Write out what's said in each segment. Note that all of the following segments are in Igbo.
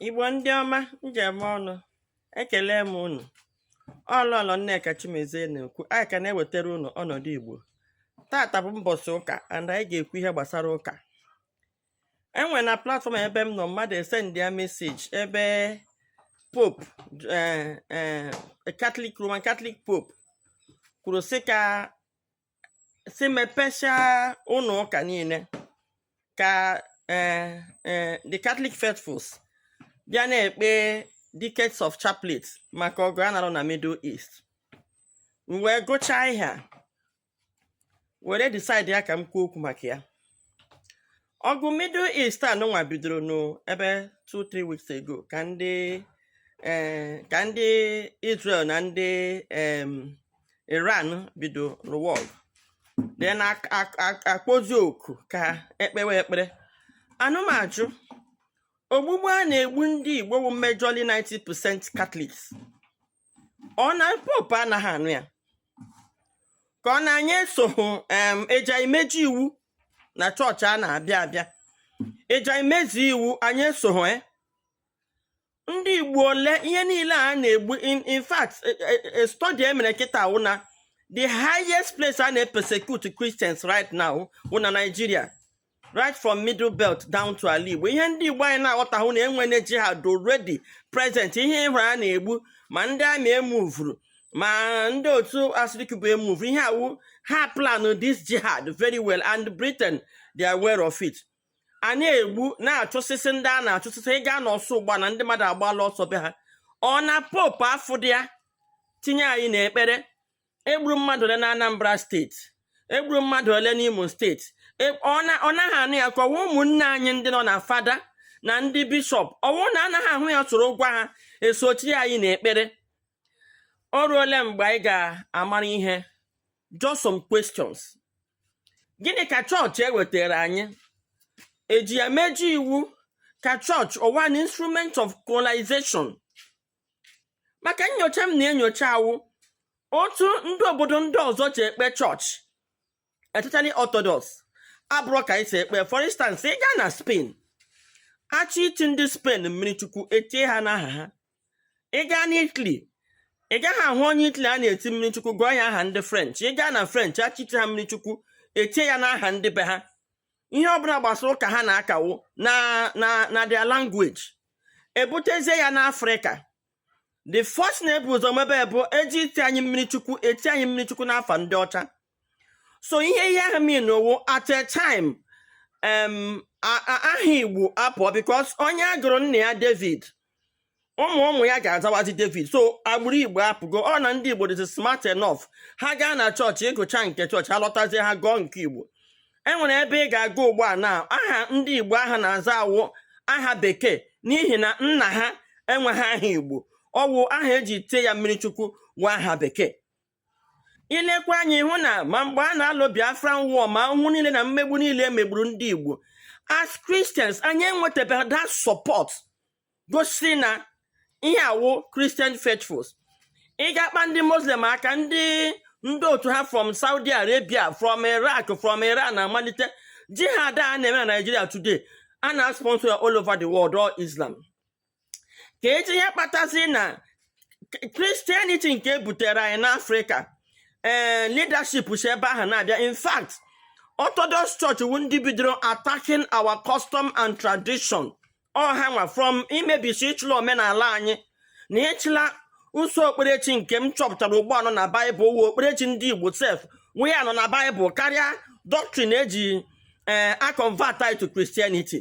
Igbo ndị ọma m ji eme ọnụ ekele m unu ọ Lọlọ Nneka Chimezie na-ekwu anyị ka na-ewetara unu ọnọdụ Igbo tata bụ mbọchị ụka and anyị ga-ekwu ihe gbasara ụka enwere na platfọm ebe m nọ mmadụ esendịa meseji ebe pope eh, eh, Catholic Roman Catholic pope kwuru sị ka sị mepesịa ụlọ ụka niile ka eh, eh, the Catholic faithfuls bịa na-ekpe decades of chaplet maka ọgụ a na-alụ na Middle East m wee gụchaa ihe a were decide ya ka m kwuo okwu maka ya ọgụ middle east a nụnwa bidoro n'ebe 2-3 weeks ago ka ndị eh, ka ndị israel na ndị em, iran bido nụwa ọgụ then ak- ak- ak- akpọzi oku ka ekpewe ekpere a na m ajụ ogbugbu a na-egbu ndị igbo wụ majorly 90% catholics ọ na popu anaghị anụ ya ka ọ na anyị esoghị em eji emeji iwu na chọọchị a na-abịa abịa eji emezi iwu anyị esoghị ya ndị igbo ole ihe niile a na-egbu in in fact study e mere kịta wụ na the highest place a na-persecute christians right now wụ na nigeria right from middle belt down to ala igbo ihe ndị igbo anyị na-aghọtahụ na enwere jihad already present ihe ị hụrụ a na-egbu ma ndị amị emuvuru ma ndị otu Asari Dokubo emuvuru ihe a wụ ha plan this jihad very well and britain they are aware of it a na-egbu na-achụsịsị ndị a na-achụsịsị ị gaa n'Orsu ugbua na ndị mmadụ agbaala ọsọ be ha ọ na popu afụdị ya tinye anyị n'ekpere egburu mmadụ ole na Anambra steeti egburu mmadụ ole n'Imo steeti e, ọ naghị anụ ya ka ọ wụ ụmụnne anyị ndị nọ na fada na ndị bishọp ọ wụ na anaghị ahụ ya soro gwa ha esochi anyị n'ekpere o ruole mgbe anyị ga-amara ihe just some questions gịnị ka chọọchị ewetara anyị eji ya meji iwu ka chọọchị ọ wụ an instrument of colonization maka nyocha m na-enyocha a wụ otu ndị obodo ndị ọzọ ji ekpe chọọchị especially Orthodox abụrọ ka e si ekpe for instance ị gaa na Spain a chọọ iti ndị Spain mmiri chukwu etie ha n'aha ha ị gaa na Italy ị gaghị ahụ onye Italy a na-eti mmiri chukwu gụọ ya aha ndị French ị gaa na French a chọọ iti ha mmiri chukwu etie ya n'aha ndị be ha ihe ọbụla gbasara ụka ha na-aka wụ na na na their language ebutezie ya n'afrịka the first na-ebu ụzọ mebe bụ eji iti anyị mmiri chukwu eti anyị mmiri chukwu n'afa ndị ọcha so ihe ihe ahụ mean wụ at a time aha igbo apụọ because onye agụrụ nna ya david ụmụ ụmụ ya ga-azawazi david so agbụrụ igbo apụgo ọ na ndị igbo dịzi smart enough ha gaa na chọọchị ịgụcha nke chọọchị ha lọtazie ha gụọ nke igbo e nwere ebe ị ga-aga ugbu a na aha ndị igbo ahụ na-aza wụ aha bekee n'ihi na nna ha enweghị aha igbo ọ wụ aha eji tie ya mmiri chukwu wụ aha bekee i lekwa anya hụ na ma mgbe a na-alụ Biafra war ma ahụhụ niile na mmegbu niile e megburu ndị Igbo as Christians anyị enwetabeghị that support gosiri na ihe a wụ Christian faithfuls ị ga-akpa ndị Muslim aka ndị ndị otu ha from Saudi Arabia from Iraq from Iran na-amalite jihad a na-eme na Nigeria today a na-sponsor ya all over the world all Islam ka eji ihe kpatazi na Christianity nke ebutere anyị n'afrịka ee eh, leadership si ebe ahụ na-abịa in fact orthodox church wụ ndị bidoro attacking our custom and tradition ọ hanwa from imebisi ịchụla omenala anyị na ịchụla usoro okperechi nke m chọpụtara ugbu a nọ na baịbụl wụ okperechi ndị igbo sef wụ ya nọ na baịbụl karịa doctrine eji ee eh, akọnvat anyị to Christianity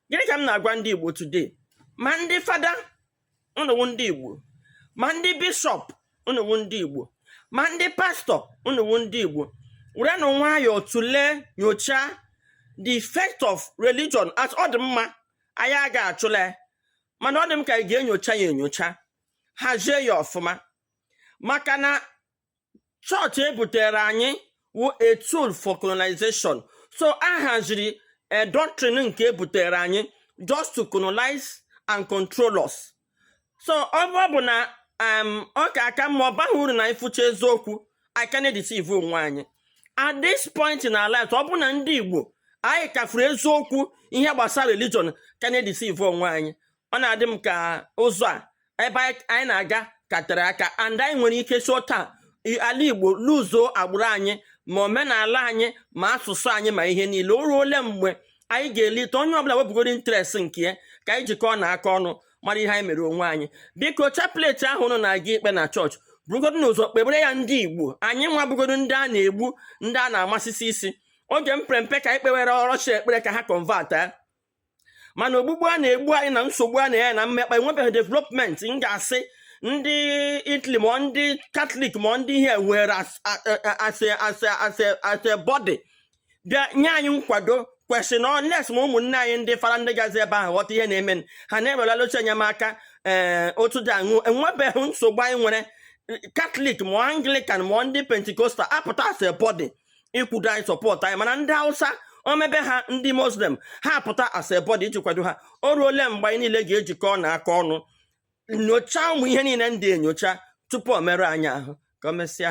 gịnị ka m na-agwa ndị Igbo today ma ndị fada ụnụ wụ ndị Igbo ma ndị bishọp ụnụ wụ ndị Igbo ma ndị pastọ ụnụ wụ ndị Igbo werenụ nwayọọ tụlee nyochaa the effect of religion as ọ dị mma anyị aga achụla mana ọ dị m ka anyị ga-enyocha ya enyocha hazie ya ọfụma maka na chọọchị ebutere anyị wụ a tool for colonization so a haziri a eh, doctrine nke ebutere anyị just to colonize and control us so ọ bụ na ọ ka aka mma ọ baghị uru na anyị fụcha eziokwu anyị ka na-edeceive onwe anyị at this point na life ọ bụ na ndị Igbo anyị ka fụrụ eziokwu ihe gbasara religion ka na-edeceive onwe anyị ọ na-adị m ka ụzọ a ebe anyị na-aga ka tere aka and anyị nwere ike si otu a ala igbo luzuo agbụrụ anyị ma omenala anyị ma asụsụ anyị ma ihe niile o ruo ole mgbe anyị ga-elite onye ọbụla wepụgodo interest nke ya ka anyị jikọọnụ aka ọnụ mara ihe anyị mere onwe anyị biko chapleti ahụ ụnụ na-aga ikpe na chọọchị burugodo ụzọ kpebere ya ndị igbo anyị nwa bụgodo ndị a na-egbu ndị a na-amasịsị isi oge m pere mpe ka anyị kpewere russia ekpere ka ha kọnvatịa mana ogbugbu a na-egbu anyị na nsogbu a na-enye na mmekpa enwebeghị development m ga-asị ndị Italy ma ọ ndị Katọlik ma ọ ndị ihe were as a body bịa nye anyị nkwado kwesịrị unless ma ụmụnne anyị ndị fada ndị gazi ebe ahụ ghọta ihe na-eme ha na-ewerela oche enyemaka ee otu dị aṅaa enwebeghị nsogbu anyị nwere Katọlik ma ọ Anglikan ma ọ ndị pentikostal apụta as a body ịkwụdo anyị support anyị mana ndị Hausa o mebe ha ndị Muslim ha apụta as a body iji kwado ha o ruole mgbe anyị niile ga-ejikọ na aka ọnụ nyochaa ụmụ ihe niile ndị a enyocha tupu o mere anyị ahụ ka o mesịa